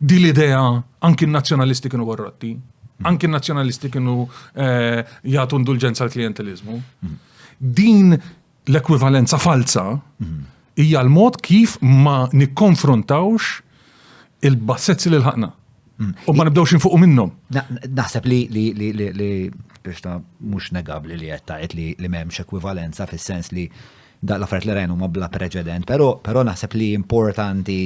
Din l-idea anki n-nazzjonalisti kienu korrotti, anki n-nazzjonalisti kienu eh, jagħtu indulġenza l klientelizmu Din l-ekwivalenza falza hija l-mod kif ma nikkonfrontawx il-bassezzi li l-ħakna. U ma nibdewx infuqu minnhom. Naħseb li biex ta' mhux negabli li qed tgħid li m'hemmx ekwivalenza fis-sens li Daqs l-affarijiet li rajna huma bla preċedent, però però naħseb li importanti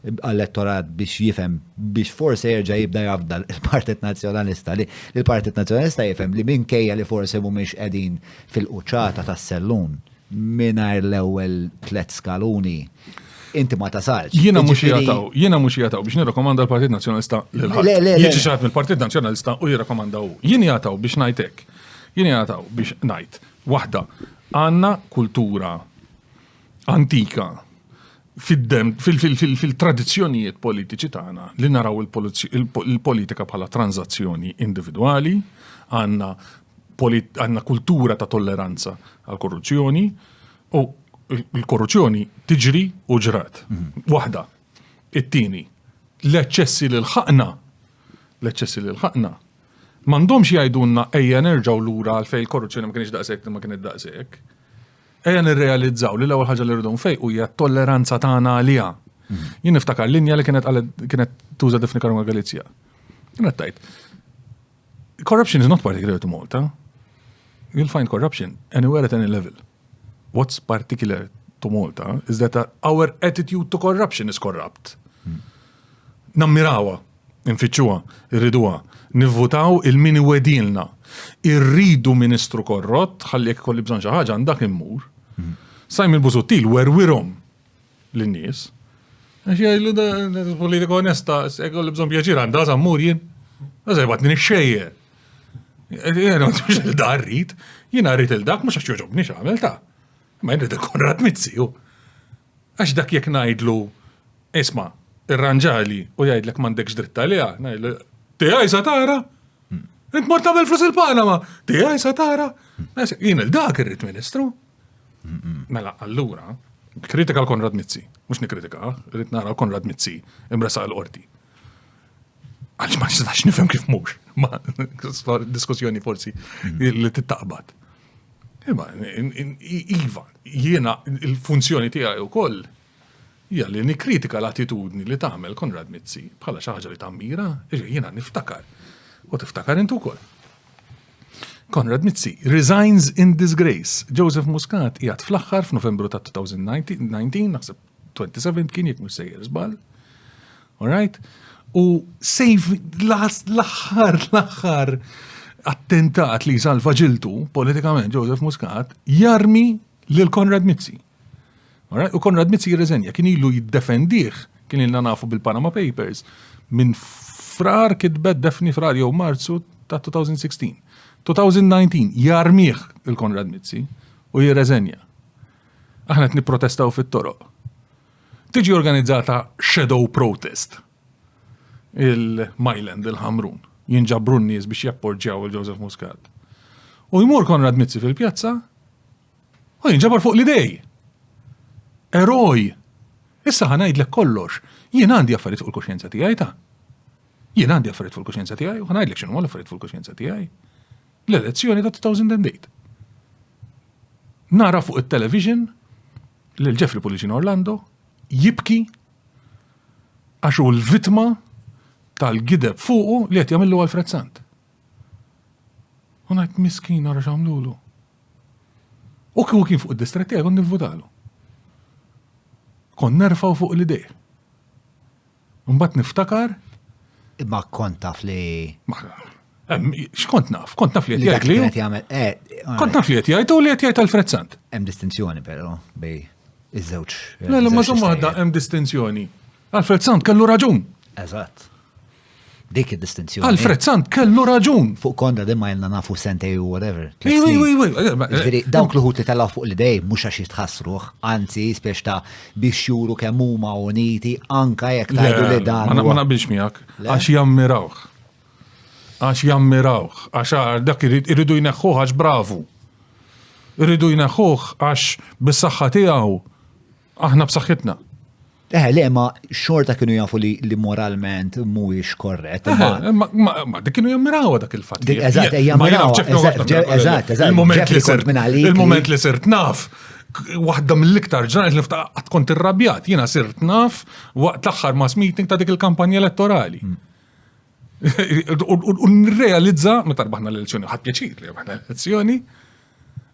għall-elettorat biex jifhem biex forsi jerġa' jibda jafda l-Partit Nazzjonalista li l-Partit Nazzjonalista jifhem li minkejja li forsi mhumiex qegħdin fil-quċċata tas-sellun mingħajr l-ewwel tliet skaluni inti ma tasalx. Jiena mhux Jiġifieri- jataw, jiena mhux jataw biex nirrakomanda l-Partit Nazzjonalista lil ħadd. Le, le, le. Jiġi xaħat mill-Partit Nazzjonalista u jirrakomanda hu. Jien jataw biex ngħid hekk. Jien jataw biex ngħid Waħda, għandna kultura antika fil-tradizzjonijiet politiċi tagħna li naraw il-politika bħala tranzazzjoni individwali, għandna għandna kultura ta' tolleranza għal korruzzjoni u l-korruzzjoni tiġri u ġrat. Mhm. Waħda, it-tieni, l-eċċessi li l-ħaqna, l-eċċessi li l-ħaqna, M'għandhomx jgħidulna ejja nerġgħu lura għal fejn il-korruzzjoni ma kienx daqshekk ma kienet daqshekk. Ejja nirrealizzaw li l-ewwel ħaġa li rridu nfejqu hija t-tolleranza tagħna għaliha. Mhm. Jien niftakar linja li kienet kienet tuża Defni Karunga Galizja. Kienet tajt. Corruption is not particular to Malta. You'll find corruption anywhere at any level. What's particular to Malta is that our attitude to corruption is corrupt. Mhm. Nammirawa Infittxuha, irriduha, nivvutaw il min iwegħdilna. Irridu Ministru korrott ħalli jekk ikolli bżonn xi ħaġa għand dak immur. Simon Busuttil werwirhom lin-nies. Għax jgħidlu da politika onesta, jekk ikolli bżonn pjaċir għandha sa mmur jien. Għaża jibgħatni nixxejjer. Jien ma tmux il-dar rrid, jien rrid il-dak mhux għax joġobni x'għamel ta'. Ma jrid il-Konrad Mizziju. Għax dak jekk ngħidlu, isma', irranġali u jgħidlek m'għandekx dritt għaliha, ngħidlu, tiegħi sa tara? Int mort tagħmel flus il-Panama, tiegħi sa tara? Jien il-dak irrid Ministru. Mela, allura, kritika l-Konrad Mizzi, mhux nikkritika, irrid nara l-Konrad Mizzi imresa l-qorti. Għalx ma nistax nifhem kif mhux, ma diskussjoni forsi li tittaqbad. Imma, iva, jiena il-funzjoni tiegħi wkoll hija li nikkritika l-attitudni li tagħmel Konrad Mizzi bħala xi ħaġa li tammira, jiena niftakar. U tiftakar intu wkoll. Konrad Mizzi resigns in disgrace. Joseph Muscat jgħat fl-aħħar f'Novembru ta' 2019, naħseb 27 kien jekk mhux sejjer żball. Alright? U sejf l-aħħar l-aħħar attentat li salva ġiltu politikament Joseph Muscat jarmi lil Konrad Mizzi. Alright? U Konrad Mizzi jirreżenja kien ilu jiddefendih kien ilna nafu bil-Panama Papers minn frar kitbet defni frar jew Marzu ta' 2016. 2019 jarmiħ il-Konrad Mizzi u jirreżenja. Aħna qed nipprotestaw fit-toroq. Tiġi organizzata shadow protest il-Myland, il-Ħamrun, jinġabru n-nies biex japporġjaw il-Joseph Muscat. U jmur Konrad Mizzi fil-pjazza u jinġabar fuq l-idej. Eroj! Issa ħanajdlek kollox, jien għandi affarijiet fuq il-kuxjenza tiegħi ta' jien għandi affarijiet fuq il-kuxjenza tiegħi u ħanajdlek x'inhuma l-affarijiet fuq il-kuxjenza tiegħi. l-elezzjoni ta' 2008. Nara fuq it-television lil Jeffrey Pulicino Orlando jibki għax hu l-vitma tal-gideb fuqu li qed jagħmillu għal Fred Sant. U ngħid miskin ara x'għamlulu. U kieku kien fuq id-distrett tiegħi kont nivvutalu. Kon nerfaw fuq l-idej. Mbagħad niftakar. Imma kont taf li. X'kont naf? Kont naf li qed jgħid li. Eh, kont naf li qed jgħid u li qed jgħid Alfred Sant. Hemm distinzjoni però bej iż-żewġ. Le, ma żomm waħda hemm distinzjoni. Alfred Sant kellu raġun. Eżatt. Dik id-distinzjoni. Alfred Sant kellu raġun. Fuq konda din ma jenna nafu sentej u whatever. Ġviri, dawk l-ħut li talaw fuq l-idej, mux għax jitħassruħ, anzi, spiex ta' biex juru kemm huma uniti, anka jek ta' li dan. Ma naqbilx miegħek, għax jammirawh. Għax jammirawh, għax dak irridu jneħħuħ għax bravu. Irridu jneħħuħ għax bis-saħħa tiegħu Aħna b'saħħitna. Eh, le, ma xorta kienu jafu li, li moralment mhuwiex korret. Eh, eh, ma, ma, ma dik kienu jammirawa dak il-fatt. Dik eżatt, jammirawa. Eżatt, eżatt. Il-moment li sirt naf waħda mill-iktar ġranet li ftaqqa kont irrabjat, jiena sirt naf waqt l-aħħar mass meeting ta' dik il-kampanja elettorali. Mm. U nirrealizza, meta rbaħna l-elezzjoni, ħadd pjaċir li rbaħna l-elezzjoni,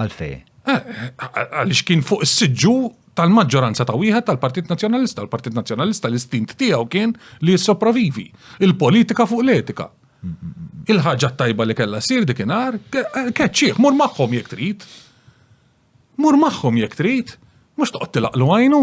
Għalfej? Eh, għaliex kien fuq is-siġġu tal-maġġoranza ta' wieħed tal-Partit Nazzjonalista. Il-Partit Nazzjonalista l-istint tiegħu kien li jissopravivi. Il-politika fuq l-etika. Il-ħaġa tajba li kellha sir dikinhar, keċċieħ, mur magħhom jekk trid. Mur magħhom jekk trid, mhux toqgħod tilaqlu għajnu.